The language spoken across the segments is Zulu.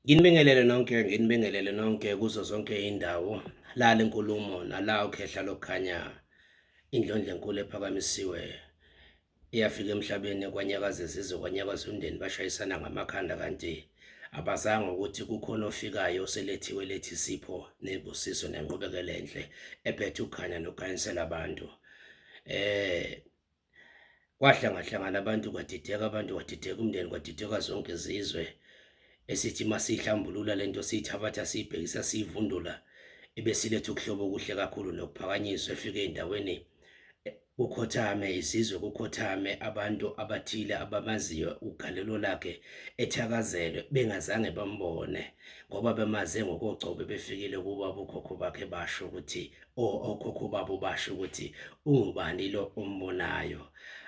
Nginibingelele nonke, nginibingelele nonke kuzo zonke iy'ndawo la le nkulumo nala ukhehla lokukhanya indlondla enkulu ephakamisiwe iyafika emhlabeni kwanyakaza izizwe kwanyakaza umndeni bashayisana ngamakhanda kanti abazanga ukuthi kukhona ofikayo oselethiwe lethi sipho nebusiso nenqubekela enhle ephethe ukukhanya nokukhanyisela abantu eh Kwahlangahlangana abantu kwadideka abantu kwadideka umndeni kwadideka zonke izizwe esithi masihlambulula lento siyithabatha siyibhekisa siyivundula ebesiletha ukuhlobo okuhle kakhulu nokuphakanyiswa efike endaweni kukhothame izizwe kukhothame abantu abathile abamaziyo ugalelo lakhe ethakazelwe bengazange bambone ngoba bemaze ngokogcobe befikile kuba bokhokho bakhe basho ukuthi okhokho babo basho ukuthi ungubani lo ombonayo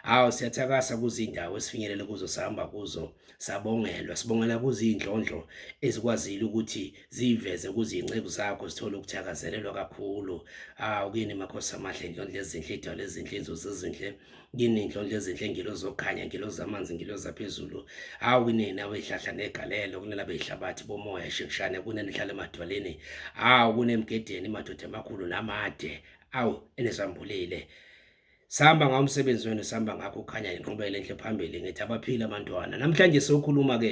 hawu siyathakasa kuzindawo esifinyelele kuzo sihamba kuzo sabongelwa sibongela kuzindlondlo ezikwazile ukuthi ziveze kuzinceku zakho sithole ukuthakazelelwa kakhulu hawu kini makhosi amahle indlondlo ezinhle idwala ezinhle inzuzo ezinhle kini ndlondlo ezinhle ngilo zokhanya ngilo zamanzi ngilo zaphezulu hawu kunina beyihlahla negalelo kunina beyihlabathi bomoya shekushane kunina ihlala emadwaleni hawu kunemgedeni madoda amakhulu namade awu enesambulile sihamba ngawo umsebenzi wenu sihamba ngakho ukhanya nginqubele enhle phambili ngithi abaphile abantwana namhlanje sokhuluma-ke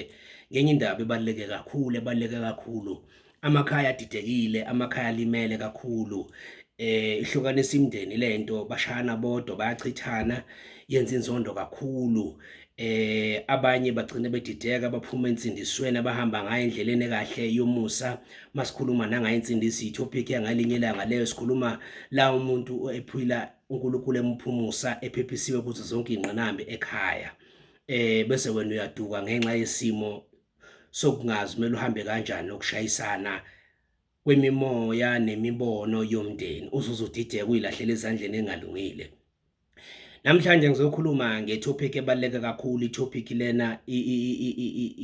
ngenye indaba ebaluleke kakhulu ebaluleke kakhulu amakhaya adidekile amakhaya alimele kakhulu eh ihlukanisa imndeni lento bashayana bodwa bayachithana yenza inzondo kakhulu eh abanye bagcine bedideka baphuma ensindisweni abahamba ngayo endleleni kahle yomusa masikhuluma nangayo insindisi itopic yangalinye ilanga leyo sikhuluma la umuntu ephila uNkulunkulu emphumusa ephephisiwe kuzo zonke ingqinambi ekhaya eh bese wena uyaduka ngenxa yesimo sokungazi kumele uhambe kanjani nokushayisana kwemimoya nemibono yomndeni uzuze udideka uyilahlela ezandleni engalungile namhlanje ngizokhuluma ngetopic ebaluleke kakhulu itopic lena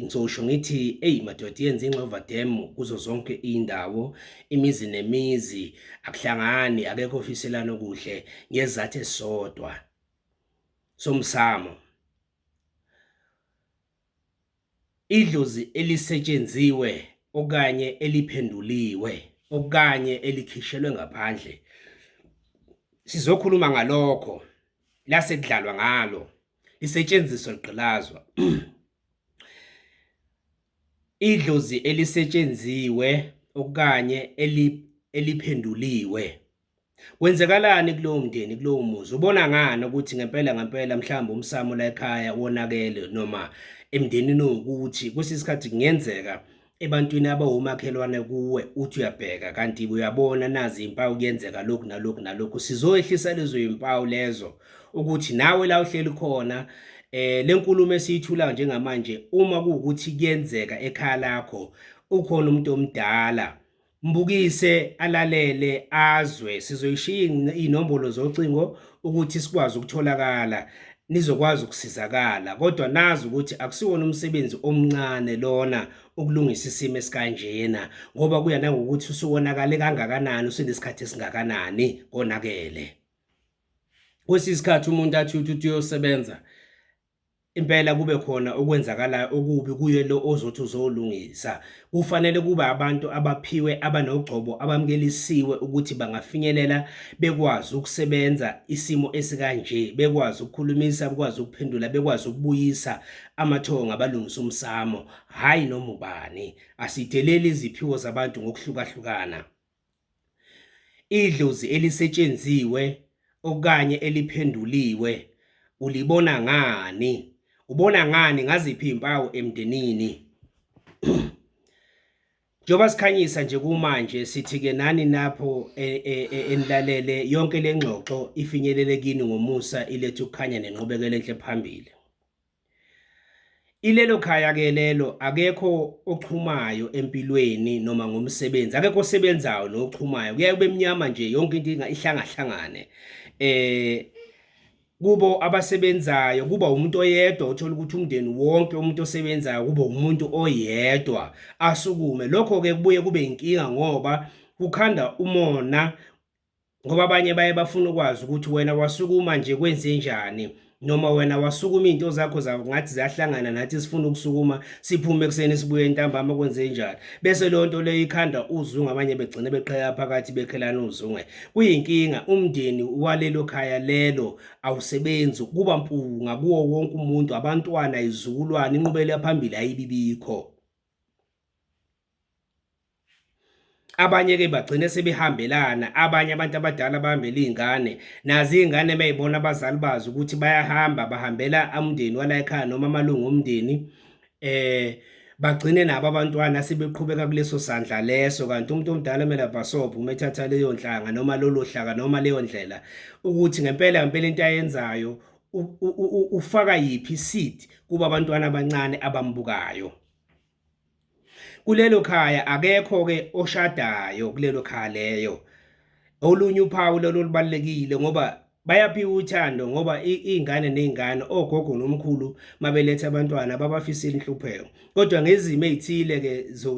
ngizosho ngithi eyi madoda yenza ingxova dem kuzo zonke iy'ndawo imizi nemizi akuhlangani akekho ofiselana okuhle ngezathu esisodwa somsamo Idlozi elisetshenziwe okanye eliphenduliwe okanye elikhishelwe ngaphandle, sizokhuluma ngalokho, lase kudlalwa ngalo, lisetshenziswa ligqilazwa. Idlozi elisetshenziwe okanye eliphenduliwe Kwenzekalani kulowo mndeni kulowo muzi ubona ngani ukuthi ngempela ngempela mhlawumbe umsamo la ekhaya wonakele noma emndenini owukuthi kwesinye isikhathi kungenzeka ebantwini abawumakhelwane kuwe uthi uyabheka kanti uyabona nazi impawu kuyenzeka lokhu nalokhu nalokhu sizoyehlisa lezo impawu lezo ukuthi nawe la uhleli khona eh lenkulumo esiyithulayo njengamanje uma kuwukuthi kuyenzeka ekhaya lakho ukhona umuntu omdala Mbukise alalele azwe sizoyishiya inombolo zocingo ukuthi sikwazi ukutholakala nizokwazi ukusizakala kodwa nazi ukuthi akusiwona umsebenzi omncane lona ukulungisa isimo esikanjena ngoba kuya nangokuthi usuwonakale kangakanani usenesikhathi esingakanani konakele kwesinye isikhathi umuntu athi uthi uyosebenza impela kube khona okwenzakalayo okubi kuye lo ozothi uzolungisa. Kufanele kube abantu abaphiwe abanogcobo abamkelisiwe ukuthi bangafinyelela bekwazi ukusebenza isimo esikanje, bekwazi ukukhulumisa, bekwazi ukuphendula, bekwazi ukubuyisa amathongo ngabalungisa umsamo, hhayi noma ubani. Asideleli iziphiwo zabantu ngokuhlukahlukana. Idlozi elisetshenziwe okanye eliphenduliwe ulibona ngani? Ubona ngani ngaziphi izimpawu emndenini? Njengoba sikhanyisa nje kumanje sithi ke nani napho e, e, e, enilalele yonke lengxoxo ifinyelele kini ngomusa ilethe ukukhanya nenqubekela enhle phambili. Ilelo khaya ke lelo akekho ochumayo empilweni noma ngomsebenzi akekho osebenzayo nochumayo kuyaye kube mnyama nje yonke into ihlangahlangane eh kubo abasebenzayo kuba umuntu oyedwa uthola ukuthi umndeni wonke umuntu osebenzayo kuba umuntu oyedwa asukume lokho ke kubuye kube inkinga ngoba kukhanda umona ngoba abanye baye bafuna ukwazi ukuthi wena wasukuma nje kwenzenjani noma wena wasukuma into zakho zawo ngathi ziyahlangana nathi sifuna ukusukuma siphume kuseni sibuye entambama kwenze njani bese leyo nto leyo ikhanda uzungu abanye begcine beqheka phakathi bekhelana uzunge kuyinkinga umndeni walelo khaya lelo awusebenzi kuba mpunga kuwo wonke umuntu abantwana izukulwane inqubele phambili ayibibikho abanye-ke bagcine sebehambelana abanye abantu abadala bahambela iy'ngane nazo iy'ngane uma yibona abazali bazo ukuthi bayahamba bahambela umndeni wala ekhaya noma amalungu omndeni um bagcine nabo abantwana sebeqhubeka kuleso sandla leso kanti umuntu omdala kumele abhasobhe uma ethatha leyo nhlanga noma lolo hlaka noma leyo ndlela ukuthi ngempela ngempela into ayenzayo ufaka yiphi seed kuba abantwana abancane abambukayo kulelo khaya akekho-ke oshadayo kulelo khaya leyo olunye uphawu lolo lubalulekile ngoba bayaphiwa uthando ngoba iy'ngane ney'ngane ogogo nomkhulu mabeletha abantwana babafisile inhlupheko kodwa ngezimo ey'thile-ke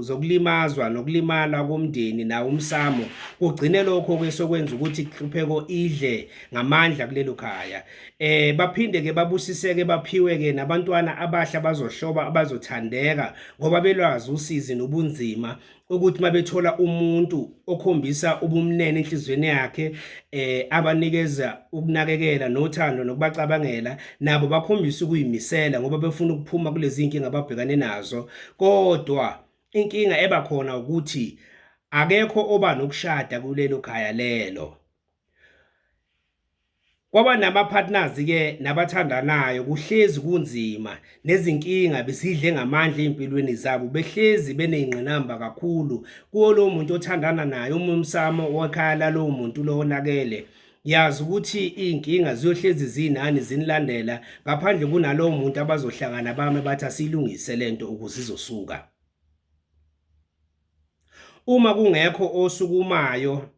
zokulimazwa nokulimala komndeni nawo umsamo kugcine lokho-ke sokwenza ukuthi inhlupheko idle ngamandla kulelo khaya eh baphinde ke babusiseke baphiwe ke nabantwana abahla bazohloba abazothandeka ngoba belwazi usizi nobunzima ukuthi mabethola umuntu okhombisa ubumnene enhlizweni yakhe eh abanikeza ukunakekela nothando nokubacabangela nabo bakhombisa ukuyimisela ngoba befuna ukuphuma kulezi inkinga ababhekane nazo kodwa inkinga eba khona ukuthi akekho oba nokushada kulelo khaya lelo Kwaba nama partners ke nabathandanayo kuhlezi kunzima nezinkinga bisidle ngamandla ezimpilweni zabo behlezi beneyinqinamba kakhulu kuwo lo muntu othandana naye uma umsamo wekhaya lalowo muntu lo onakele yazi ukuthi izinkinga ziyohlezi zinani zinilandela ngaphandle kunalowo muntu abazohlangana bame bathi asilungise lento ukuze izosuka uma kungekho osukumayo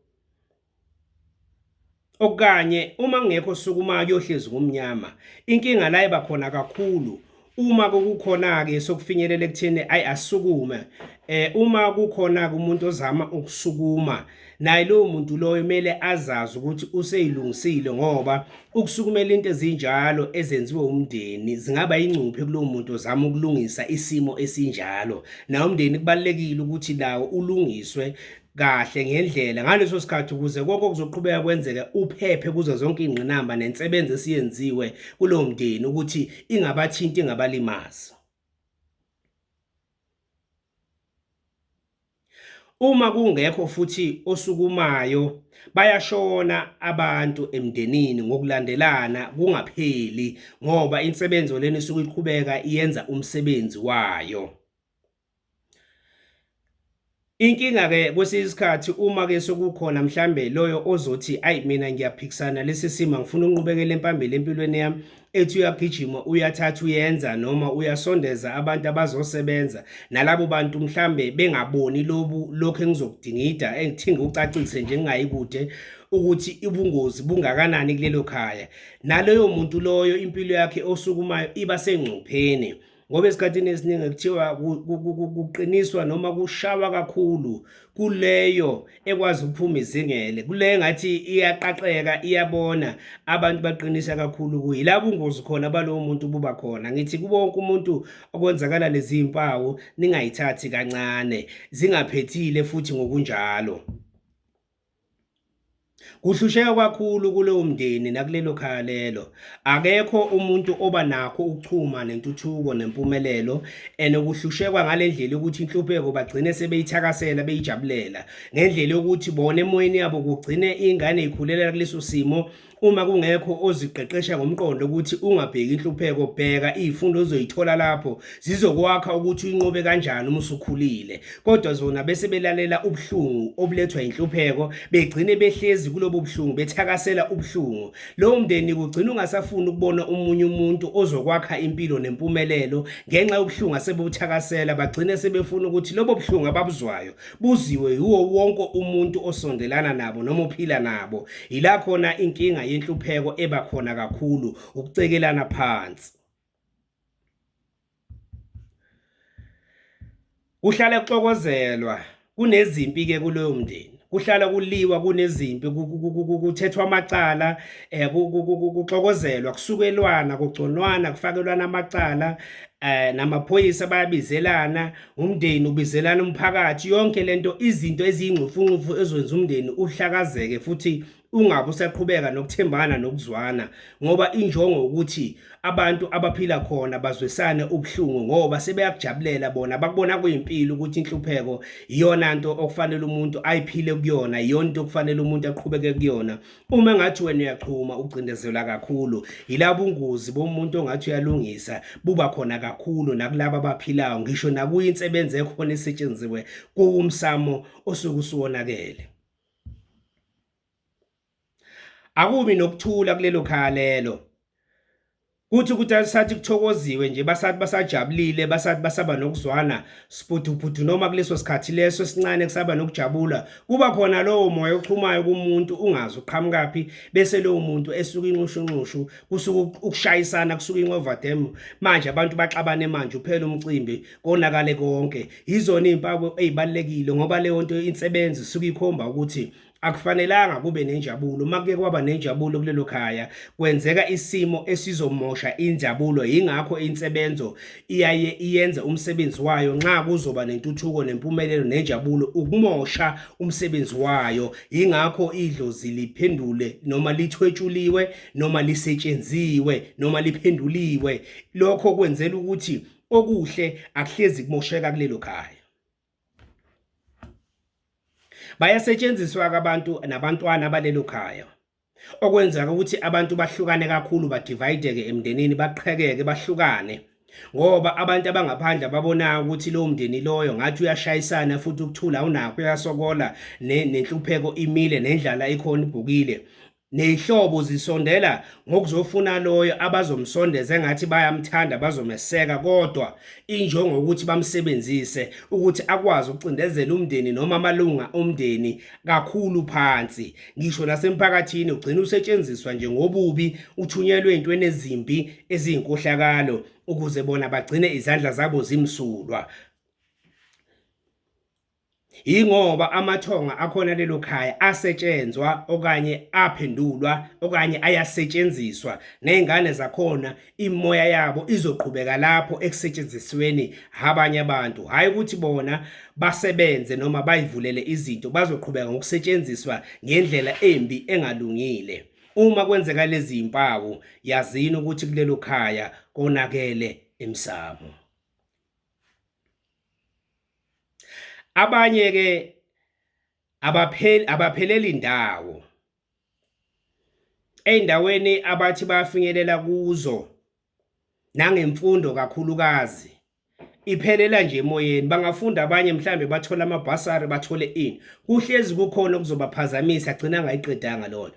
okanye uma kungekho sukuma kuyohlezi kumnyama inkinga la iba khona kakhulu uma kukhona ke sokufinyelela ekutheni ayi asukume eh uma kukhona umuntu ozama ukusukuma naye lowo muntu loyo kumele azazi ukuthi useyilungisile ngoba ukusukumela into ezinjalo ezenziwe umndeni zingaba ingcuphe kulowo muntu ozama ukulungisa isimo esinjalo nawo umndeni kubalekile ukuthi lawo ulungiswe kahle ngendlela ngaleso sikhathi ukuze konke okuzoqhubeka kwenzeke uphephe kuzo zonke ingqinamba nensebenzo esiyenziwe kulowo mndeni ukuthi ingabathinti ingabalimazi uma kungekho futhi osukumayo bayashona abantu emndenini ngokulandelana kungapheli ngoba insebenzo leni isuke iqhubeka iyenza umsebenzi wayo Inkinga ke kwesinye isikhathi uma ke sokukhona mhlambe loyo ozothi ayi mina ngiyaphikisana lesi sima ngifuna unqubekele empambili empilweni yami ethi uyagijima uyathatha uyenza noma uyasondeza abantu abazosebenza nalabo bantu mhlambe bengaboni lobu lokho engizokudingida engithinga ucacise nje ngingayi kude ukuthi ubungozi bungakanani kulelo khaya naloyo muntu loyo impilo yakhe osukumayo iba sengcupheni ngoba esikhathini esiningi kuthiwa kuqiniswa noma kushawa kakhulu kuleyo ekwazi ukuphuma izingele kuleyo ngathi iyaqaqeka iyabona abantu baqinisa kakhulu kuyi la bungozi khona balowo muntu buba khona ngithi kubonke umuntu okwenzakala lezi mpawu ningayithathi kancane zingaphethile futhi ngokunjalo Kuhlusheka kwakhulu kulowo mndeni nakulelo khaya lelo. Akekho umuntu oba nakho ukuchuma nentuthuko nempumelelo and kuhlushekwa ngale ndlela yokuthi inhlupheko bagcine sebeyithakasela beyijabulela ngendlela yokuthi bona emoyeni yabo kugcine ingane ikhulela kuleso simo Uma kungekho oziqeqesha ngomqondo ukuthi ungabheki inhlupheko, bheka izifundo ozoyithola lapho zizokwakha ukuthi uyinqobe kanjani uma usukhulile. Kodwa zona bese belalela ubuhlungu obulethwa inhlupheko, begcine behlezi kulobo buhlungu bethakasela ubuhlungu. Lowo mndeni kugcina ungasafuni ukubona umunye umuntu ozokwakha impilo nempumelelo ngenxa yobuhlungu asebuthakasela, bagcine sebefuna ukuthi lobo buhlungu ababuzwayo buziwe yiwo wonke umuntu osondelana nabo noma ophila nabo yila khona inkinga yenhlupheko eba khona kakhulu ukucekelana phansi kuhlale kuxokozelwa kunezimpi ke kuleyo mndeni kuhlala kuliwa kunezimpi kuthethwa amacala eh kuxokozelwa kusukelwana kugconwana kufakelwana amacala eh namaphoyisa bayabizelana umndeni ubizelana umphakathi yonke lento izinto eziyingxufunxufu ezwenza umndeni uhlakazeke futhi ungabe usaqhubeka nokuthembana nokuzwana ngoba injongo ukuthi abantu abaphila khona bazwesane ubuhlungu ngoba sebeyakujabulela bona bakubona kuyimpilo ukuthi inhlupheko iyona nto okufanele umuntu ayiphile kuyona iyona into okufanele umuntu aqhubeke kuyona Uma ngathi wena uyachuma ucindezela kakhulu yilabo ungozi bomuntu ongathi uyalungisa buba khona kakhulu nakulabo abaphilayo ngisho nakuyi insebenzi ekhona esetshenziwe kuwumsamo osuku siwonakele Akubi nokuthula kulelo khalelo Kuthi ukuthi sathi kuthokoziwe nje basathi basajabulile basathi basaba nokuzwana siphuthuphudu noma kuleso sikhathi leso esincane kusaba nokujabula kuba khona lowo moya ochumayo kumuntu ungazi uqhamukaphi bese lowo muntu esuka inxushunxushu kusuka ukushayisana kusuka ingoverdam manje abantu baxabane manje uphela umcimbi konakale konke yizona izimpawu ezibalekile ngoba leyo nto insebenzi suka ikhomba ukuthi akufanelanga kube nenjabulo uma kuke kwaba nenjabulo kulelo khaya kwenzeka isimo esizomosha injabulo yingakho insebenzo iyaye iyenze umsebenzi wayo nxa kuzoba nentuthuko nempumelelo nenjabulo ukumosha umsebenzi wayo yingakho idlozi liphendule noma lithwetshuliwe noma lisetshenziwe noma liphenduliwe lokho kwenzela ukuthi okuhle akuhlezi kumosheka kulelo khaya bayasetshenziswa-ke abantu nabantwana balelo khaya okwenzeka ukuthi abantu bahlukane kakhulu badivayideke emndenini baqhekeke bahlukane ngoba abantu abangaphandle babonayo ukuthi lowo mndeni loyo ngathi uyashayisana futhi ukuthula awunakho uyasokola nenhlupheko imile nendlala ikhona ibhukile Ney'hlobo zisondela ngokuzofuna loyo abazomsondeza engathi bayamthanda bazomeseka kodwa injongo ukuthi bamsebenzise ukuthi akwazi ukucindezela umndeni noma amalunga omndeni kakhulu phansi. Ngisho nasemphakathini ugcina usetshenziswa nje ngobubi uthunyelwe ey'ntweni ezimbi eziyinkohlakalo ukuze bona bagcine izandla zabo zimsulwa. Yingoba amathonga akhona lelo khaya asetshenzwa okanye aphendulwa okanye ayasetshenziswa nezingane zakhona imoya yabo izoqhubeka lapho ekusetshenzisweni abanye abantu hayi ukuthi bona basebenze noma bayivulele izinto bazoqhubeka ngokusetshenziswa ngendlela embi engalungile uma kwenzeka lezi zimpawu yazini ukuthi kulelo khaya konakele emsamo Abanye ke abapheli abapheleli ndawo eindaweni abathi bafinyelela kuzo nangemfundo kakhulukazi iphelela nje emoyeni bangafunda abanye mhlambe bathole amabhasari bathole ini kuhlezi kukhona okuzobaphazamisa agcina angayiqedanga lona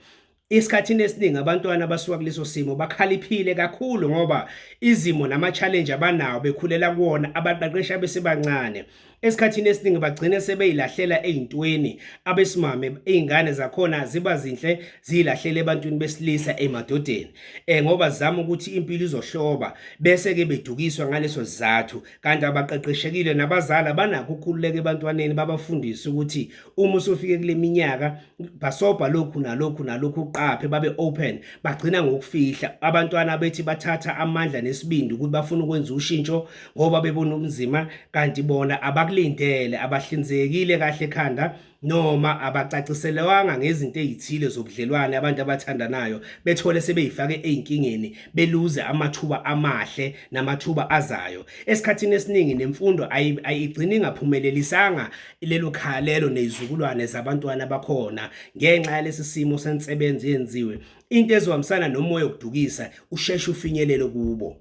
Isikhathini esiningi abantwana abasuka kuleso simo bakhaliphile kakhulu ngoba izimo nama-challenge abanawo bekhulela kuwona abaqeqeshi abesebancane esikhathini esiningi bagcine sebeyilahlela ey'ntweni abesimame iy'ngane zakhona ziba zinhle ziyilahlela ebantwini besilisa emadodeni um ngoba zizama ukuthi impilo izohloba bese-ke bedukiswa ngaleso sizathu kanti abaqeqeshekile nabazali abanakho ukukhululeka ebantwaneni babafundise ukuthi uma usufike kule minyaka basobha lokhu nalokhu nalokhu uqaphe babe open bagcina ngokufihla abantwana bethi bathatha amandla nesibindi ukuthi bafuna ukwenza ushintsho ngoba bebona umzima kanti bona abakulindele abahlinzekile kahle ekhanda noma abacaciselewanga ngezinto ezithile zobudlelwane abantu abathandanayo bethole sebeyifake ezinkingeni beluze amathuba amahle namathuba azayo esikhathini esiningi nemfundo ayigcini ingaphumeleli isanga lelo khaya lelo nezizukulwane zabantwana bakhona ngenxa yalesi simo sensebenzi yenziwe into ezohambisana nomoya okudukisa usheshe ufinyelele kubo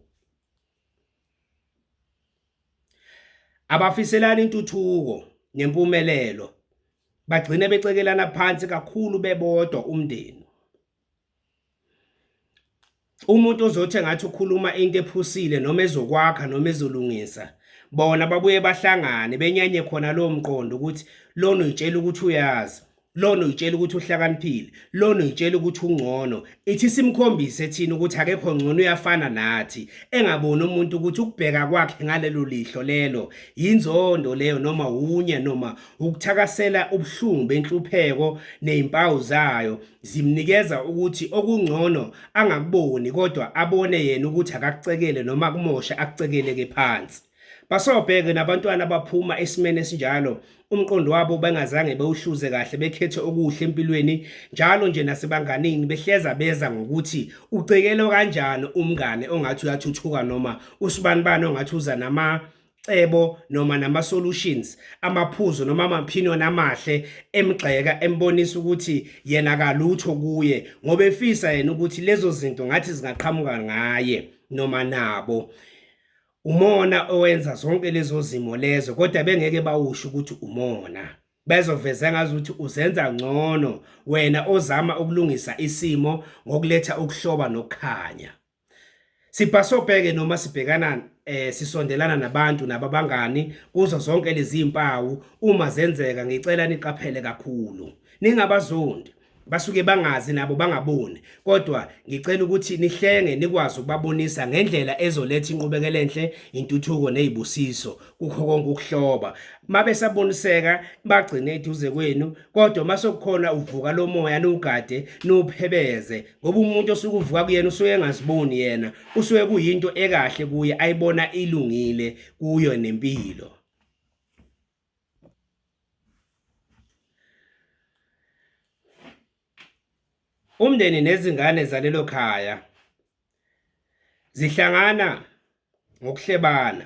abafiselani intuthuko nempumelelo bagcine becekelana phansi kakhulu bebodwa umndeni Umuntu ozothi engathi ukhuluma into ephusile noma ezokwakha noma ezolungisa bona babuye bahlangane benyanye khona lowo mqondo ukuthi lona uyitshela ukuthi uyazi lona uyitshela ukuthi uhlakaniphile lona uyitshela ukuthi ungcono ithi simkhombise thina ukuthi akekho ngcono uyafana nathi engaboni umuntu ukuthi ukubheka kwakhe ngalelo lihlo lelo yinzondo leyo noma wunye noma ukuthakasela ubuhlungu benhlupheko nezimpawu zayo zimnikeza ukuthi okungcono angakuboni kodwa abone yena ukuthi akakucekele noma kumoshe akucekeleke phansi basobheke nabantwana abaphuma esimene esinjalo umqondo wabo bengazange bewuhluze kahle bekhethe okuhle empilweni njalo nje nasebanganini behleza beza ngokuthi ucekelwa kanjani umngane ongathi uyathuthuka noma usibanibani ongathi uza nama cebo noma nama solutions amaphuzu noma amapinion amahle emgxeka embonisa ukuthi yena kalutho kuye ngoba efisa yena ukuthi lezo zinto ngathi zingaqhamuka ngaye noma nabo umona owenza zonke lezo zimo lezo kodwa bengeke bawusho ukuthi umona bezoveza ngazi ukuthi uzenza ngcono wena ozama ukulungisa isimo ngokuletha ukuhloba nokukhanya Sibhasobheke noma sibhekana eh sisondelana nabantu nababangani kuzo zonke lezi impawu uma zenzeka ngicela niqaphele kakhulu ningabazondi basuke bangazi nabo bangaboni kodwa ngicela ukuthi nihlenge nikwazi ukubabonisa ngendlela ezoletha inqubekela enhle intuthuko nezibusiso kukho konke ukuhloba mabe saboniseka bagcine eduze kwenu kodwa masokukhona uvuka lomoya nugade nuphebeze ngoba umuntu osuke uvuka kuyena usuke engaziboni yena usuke kuyinto ekahle kuye ayibona ilungile kuyo nempilo umndeni nezingane zalelo khaya zihlangana ngokuhlebana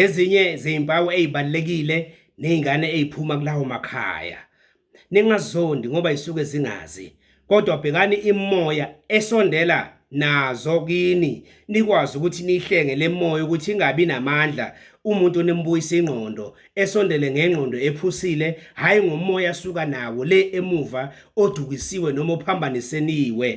ezinye zezimpawu ezibalekile nezingane eziphuma kulawo makhaya ningazondi ngoba isuke zingazi kodwa bhekani imoya esondela nazo kini nikwazi ukuthi nihlenge lemoya ukuthi ingabi namandla umuntu nimbuyisa ingqondo esondele ngengqondo ephusile hayi ngomoya suka nawo le emuva odukisiwe noma ophambaniseniwe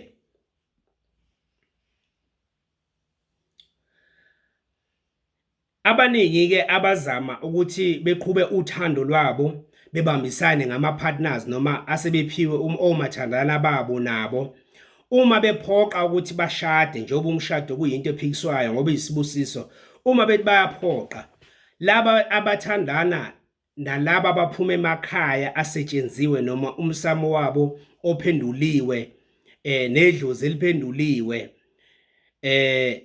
Abaningi-ke abazama ukuthi beqhube uthando lwabo bebambisane ngama-partners noma asebephiwe um, omathandana babo nabo uma bephoqa ukuthi bashade njengoba umshado kuyinto ephikiswayo ngoba iyisibusiso uma bethi bayaphoqa laba abathandana nalabo abaphuma emakhaya asetshenziwe noma umsamo wabo ophenduliwe eh nedlozi eliphenduliwe eh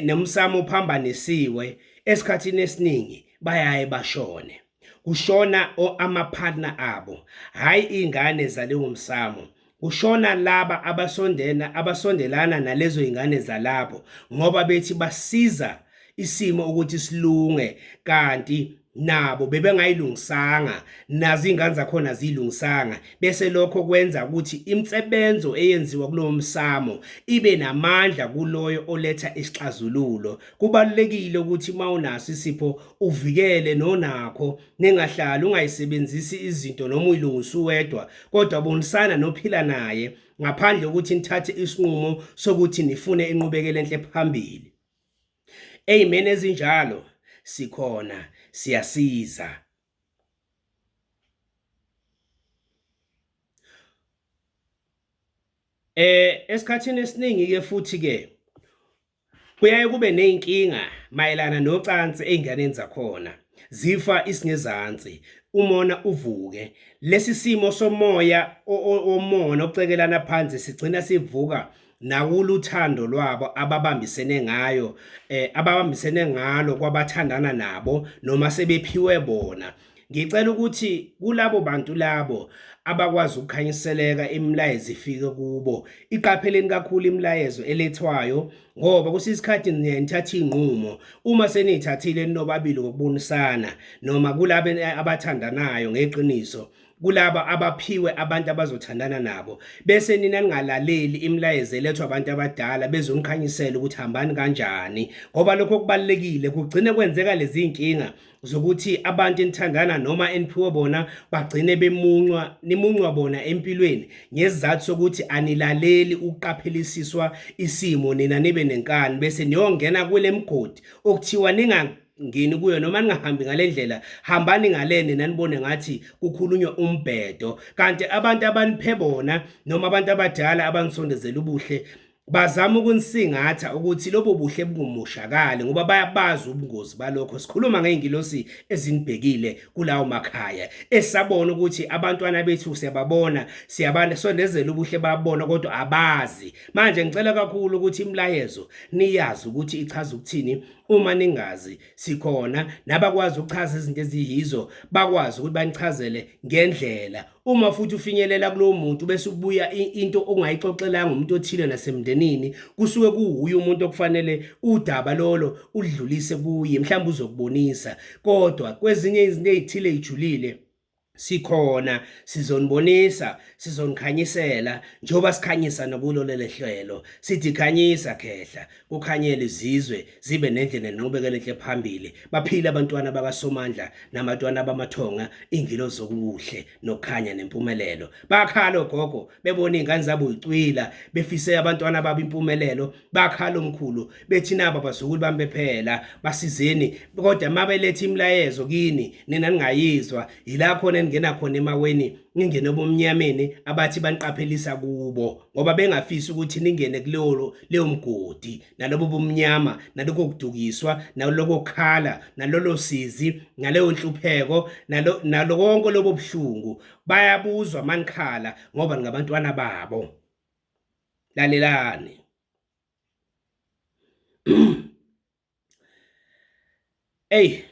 nomsamo ophambanisiwe esikhathini esiningi bayaye bashone kushona amapartner abo hhayi iy'ngane zalewo msamo Kushona laba abasondela abasondelana nalezo ingane zalapho ngoba bethi basiza isimo ukuthi silunge kanti nabo bebengayilungisanga nazo ingane zakhona zilungisanga bese lokho kwenza ukuthi imsebenzo eyenziwa kulowo msamo ibe namandla kuloyo oletha isixazululo kubalulekile ukuthi mawunaso isipho uvikele nonakho ningahlali ungayisebenzisi izinto noma uyilungisa uwedwa kodwa bonisana nophila naye ngaphandle kokuthi nithathe isinqumo sokuthi nifune inqubekela enhle phambili amen ezinjalo sikhona siyasiza eh esikhathini esiningi ke futhi ke Kuyaye kube nezinkinga mayelana nocansi einganeni zakhona. Zifa isingezansi, umona uvuke. Lesi simo somoya omona ocekelana phansi sigcina sivuka nakuluthando lwabo ababambisene ngayo eh ababambisene ngalo kwabathandana nabo noma sebephiwe bona Ngicela ukuthi kulabo bantu labo abakwazi ukukhanyiseleka imilayezo ifike kubo iqapheleni kakhulu imilayezo elethwayo ngoba kusiza isikhathi nithatha iy'nqumo uma seniyithathile ninobabili ngokubonisana noma kulabo abathandanayo ngeqiniso kulaba abaphiwe abantu abazothandana nabo bese nina ningalaleli imilayezo elethwa abantu abadala bezonikhanyisela ukuthi hambani kanjani ngoba lokho kubalekile kugcine kwenzeka lezi nkinga zokuthi abantu enithangana noma eniphiwe bona bagcine bemuncwa nimuncwa bona empilweni ngesizathu sokuthi anilaleli ukuqaphelisiswa isimo nina nibe nenkani bese niyongena kule mgodi okuthiwa ninga ngini kuyo noma ningahambi ngale ndlela hambani ngale nina nibone ngathi kukhulunywa umbhedo kanti abantu abaniphe bona noma abantu abadala abanisondezela ubuhle bazama ukunisingatha ukuthi lobo buhle bungumoshakali ngoba bayabazi ubungozi balokho sikhuluma ngey'ngilosi ezinibhekile kulawo makhaya esabona ukuthi abantwana bethu siyababona siyabasondezela ubuhle babona kodwa abazi manje ngicela kakhulu ukuthi imilayezo niyazi ukuthi ichaza ukuthini uma ningazi sikhona nabakwazi ukuchaza izinto eziyizo bakwazi ukuthi banichazele ngendlela uma futhi ufinyelela kulowo muntu bese ubuya into ongayixoxelanga umuntu othile nasemndenini kusuke kuwuye umuntu okufanele udaba lolo udlulise kuye mhlawumbe uzokubonisa kodwa kwezinye izinto ezithile ijulile sikhona sizonibonisa sizonikhanyisela njengoba sikhanyisa nokulo lelehlelo sithi khanyisa khehla kukhanyele izizwe zibe nenhle nenqubekela enhle phambili baphile abantwana bakaSomandla namatwana bamathonga ingilo zokuhle nokhanya nempumelelo bakhala ogogo bebona ingane zabo icwila befise abantwana babo impumelelo bakhala omkhulu bethi naba bazukulu bami bephela basizeni kodwa mabelethe imilayezo kini nina ningayizwa yila khona ningena khona emaweni ningene bomnyameni abathi baniqaphelisa kubo ngoba bengafisi ukuthi ningene kuleyo leyo mgodi nalobo bumnyama naloko kudukiswa naloko khala nalolo sizi naleyo nhlupheko nalo nalo konke lobo buhlungu bayabuzwa manikhala ngoba ngabantwana babo lalelani Ey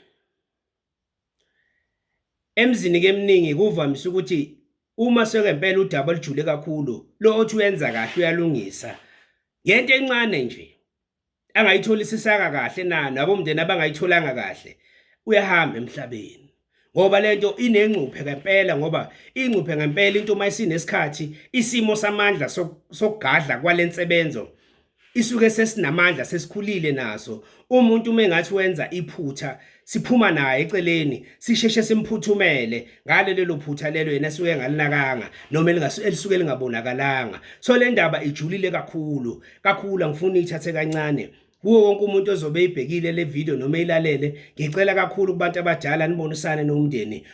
Emzini-ke eminingi kuvamise ukuthi uma sekempela udaba olujule kakhulu, lo othi uyenza kahle uyalungisa ngento encane nje angayitholisisanga kahle na nabomndeni abangayitholanga kahle uyahamba emhlabeni ngoba lento inengcuphe ngempela ngoba ingcuphe ngempela into uma isinesikhathi isimo samandla sokugadla kwalensebenzo isuke sesinamandla sesikhulile naso umuntu uma engathi wenza iphutha siphuma naye eceleni sisheshe simphuthumele ngale lelo phutha lelo yena suke ngalinakanga noma elisuke lingabonakalanga so le ndaba ijulile kakhulu kakhulu angifuni ithathe kancane kuwo wonke umuntu ozobe eyibhekile le video noma eyilalele ngicela kakhulu kubantu abadala nibonisane nomndeni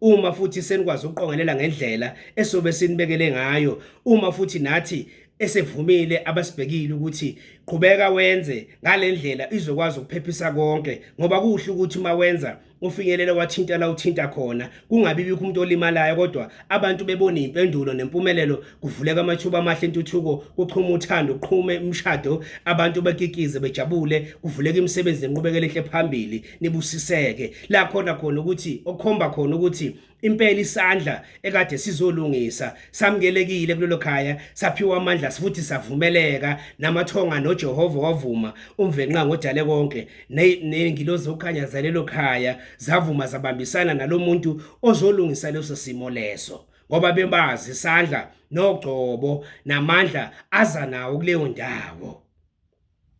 uma futhi senikwazi ukuqongelela ngendlela esobe sinibekele ngayo uma futhi nathi esevumile abasibhekile ukuthi qhubeka wenze ngalendlela izokwazi ukuphephisa konke ngoba kuhle ukuthi uma wenza ufinyelele wathinta la uthinta khona kungabi bikho umuntu olimalayo kodwa abantu bebona impendulo nempumelelo kuvuleka amathuba amahle intuthuko kuqhuma uthando kuqhume umshado abantu bakikize bejabule kuvuleka imisebenzi nenqubekela enhle phambili nibusiseke la khona khona ukuthi okhomba khona ukuthi impela isandla ekade sizolungisa samkelekile kulelo khaya saphiwa amandla futhi savumeleka namathonga noJehova wavuma umvenqa ngodale konke nengilozi okhanya zalelo khaya zavuma zabambisana nalomuntu ozolungisa leso simo leso ngoba bebazi isandla nogcobo namandla aza nawo kuleyo ndawo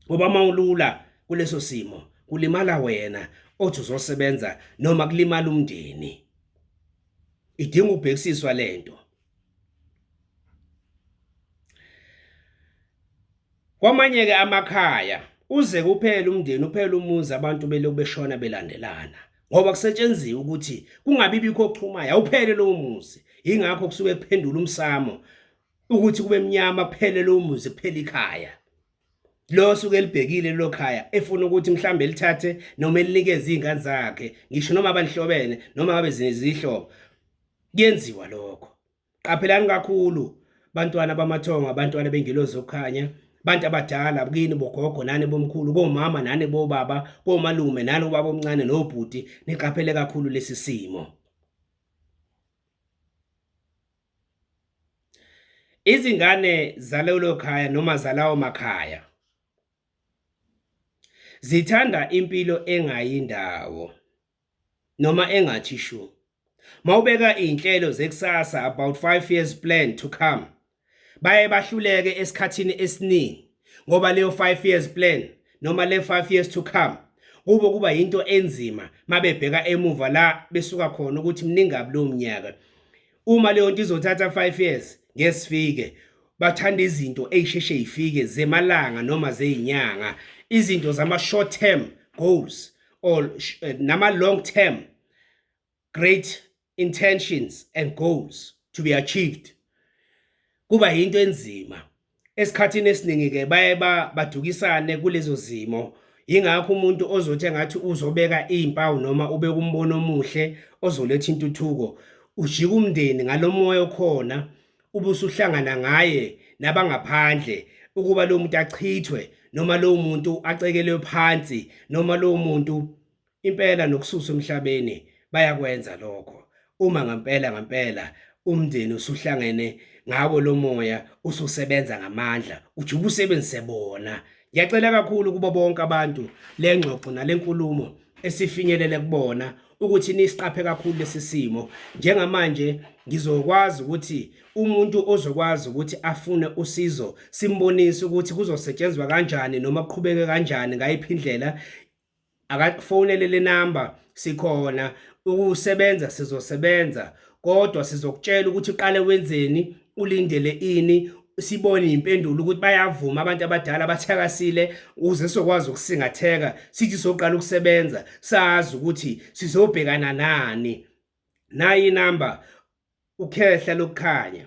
ngoba uma ulula kuleso simo kulimala wena othi uzosebenza noma kulimala umndeni idinga ubhekisiswa lento kwamanye ke amakhaya uze kuphela umndeni uphela umuzi abantu belokhu beshona belandelana ngoba kusetshenziwe ukuthi kungabi bikho okuchumayo awuphele lowo muzi ingakho kusuke kuphendula umsamo ukuthi kube mnyama kuphele lo muzi kuphela ikhaya lo suke elibhekile lo khaya efuna ukuthi mhlambe lithathe noma elinikeze izingane zakhe ngisho noma abanihlobene noma ngabe zinezihlobo kuyenziwa lokho qaphelani kakhulu bantwana bamathongo abantwana bengelozi okukhanya bantu abadala bukini bogogo nani bomkhulu komama nani bobaba komalume nani ubaba omncane nobhuti niqaphele kakhulu lesi simo Izingane zalelo khaya noma zalawo makhaya zithanda impilo engayi ndawo noma engathi shu. Mawubeka izinhlelo zekusasa about 5 years plan to come baye bahluleke esikhathini esiningi ngoba leyo 5 years plan noma le 5 years to come kubo kuba yinto enzima mabebheka emuva la besuka khona ukuthi mningabi lo mnyaka uma leyo nto izothatha 5 years ngesifike bathanda izinto eyisheshe yifike zemalanga noma zeyinyanga izinto zama short term goals or eh, nama long term great intentions and goals to be achieved kuba yinto enzima esikhathini esiningi-ke baye badukisane kulezo zimo yingakho umuntu ozothi engathi uzobeka iy'mpawu noma ubeka umbono omuhle ozoletha intuthuko ujika umndeni ngalo moya okhona ubusuhlangana ngaye nabangaphandle ukuba lo muntu achithwe noma lo muntu acekelwe phansi noma lo muntu Impela nokususa emhlabeni bayakwenza lokho. Uma ngampela ngampela umndeni usuhlangene ngawo lo moya ususebenza ngamandla uthi ubusebenzise bona ngiyacela kakhulu kubo bonke abantu le ngxoxo nale nkulumo esifinyelele kubona ukuthi nisiqaphe kakhulu lesi simo njengamanje ngizokwazi ukuthi umuntu ozokwazi ukuthi afune usizo simbonise ukuthi kuzosetshenzwa kanjani noma kuqhubeke kanjani ngayiphi indlela akafonele le number sikhona ukusebenza sizosebenza kodwa sizokutshela ukuthi uqale wenzeni ulindele ini sibone impendulo ukuthi bayavuma abantu abadala abathakasile uze sokwazi ukusingatheka sithi soqala ukusebenza sazi ukuthi sizobhekana nani nayi number ukhehla lokukhanya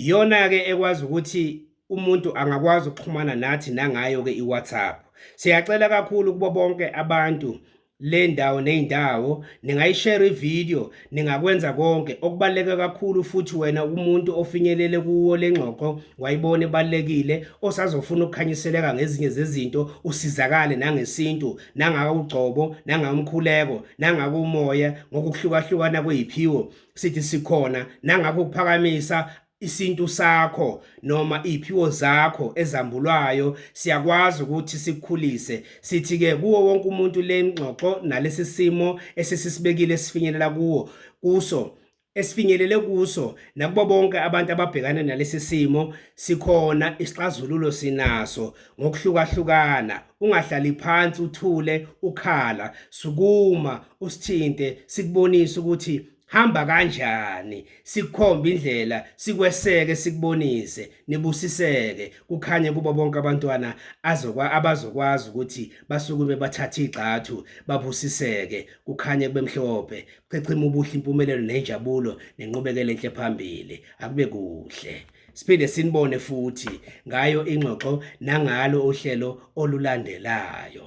Iyona-ke ekwazi ukuthi umuntu angakwazi ukuxhumana nathi nangayo-ke i-WhatsApp. Siyacela kakhulu kubo bonke abantu le ndawo ney'ndawo ningayishare ividiyo ningakwenza konke okubaluleke kakhulu futhi wena umuntu ofinyelele kuwo le ngxoxo wayibona ebalulekile osazofuna ukukhanyiseleka ngezinye zezinto usizakale nangesintu nangawugcobo nangawumkhuleko nangakumoya ngokuhlukahlukana kweyiphiwo sithi sikhona nangakho ukuphakamisa isintu sakho noma iphiwo zakho ezambulwayo siyakwazi ukuthi sikhulise sithi ke kuwo wonke umuntu lengxoxo nalesi simo esisibekile sifinyelela kuwo kuso esifinyelele kuso nakubo bonke abantu ababhekana nalesi simo sikhona isixazululo sinaso ngokuhlukahlukana ungahlali phansi uthule ukhala sukuma usithinte sikubonise ukuthi hamba kanjani sikhombe indlela sikweseke sikubonise nibusiseke kukhanye kubo bonke abantwana azokwa abazokwazi ukuthi basukume bathathe igxathu babusiseke kukhanye kubemhlophe chechima ubuhle impumelelo nenjabulo nenqubekele enhle phambili akube kuhle Siphinde sinibone futhi ngayo ingxoxo nangalo uhlelo olulandelayo.